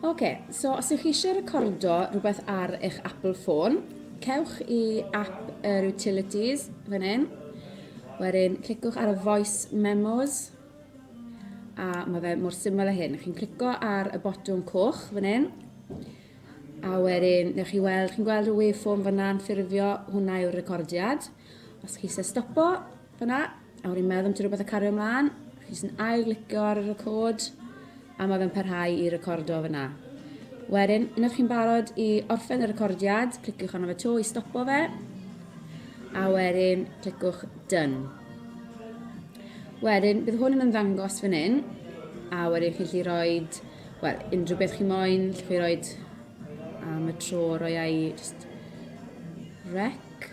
Oce, so os ywch chi eisiau recordo rhywbeth ar eich Apple ffôn, cewch i app yr Utilities fan hyn. Wedyn, clicwch ar y Voice Memos. A mae fe mor syml â hyn. Chi'n clico ar y botwm coch fan hyn. A wedyn, newch chi weld, chi'n gweld y waveform fanna'n ffurfio, hwnna yw'r recordiad. Os chi eisiau stopo, Fyna, a wedi meddwl am ti rhywbeth a cario ymlaen, jyst yn ail glicio ar y record, a mae fe'n parhau i recordo fyna. Wedyn, unwaith chi'n barod i orffen y recordiad, cliciwch arno fe to i stopo fe, a wedyn clicwch done. Wedyn, bydd hwn yn ymddangos fan hyn, a wedyn chi'n lli roi, wel, unrhyw beth chi moyn, lle chi roi am y tro roi ai just rec.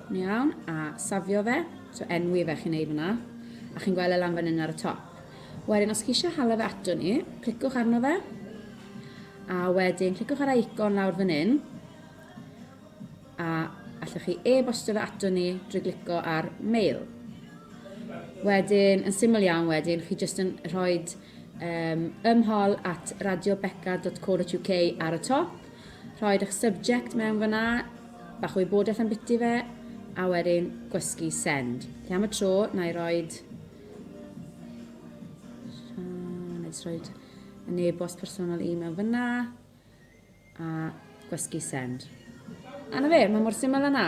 Iawn, a safio fe, so enwi fe chi'n ei fyna, a chi'n gweld e lan fan hyn ar y top. Wedyn, os chi eisiau hala fe ato ni, clicwch arno fe, a wedyn clicwch ar icon lawr fan hyn, a allwch chi e-bostio fe ato ni drwy glicio ar mail. Wedyn, yn syml iawn wedyn, chi jyst yn rhoi um, ymhol at radiobeca.co.uk ar y top, rhoi eich subject mewn fyna, Bach o wybodaeth am biti fe, a wedyn gwesgu send. Felly am y tro, na i roed... Na i roed yn e-bost personol i mewn fyna, a gwesgu send. A na fe, mae mor syml yna.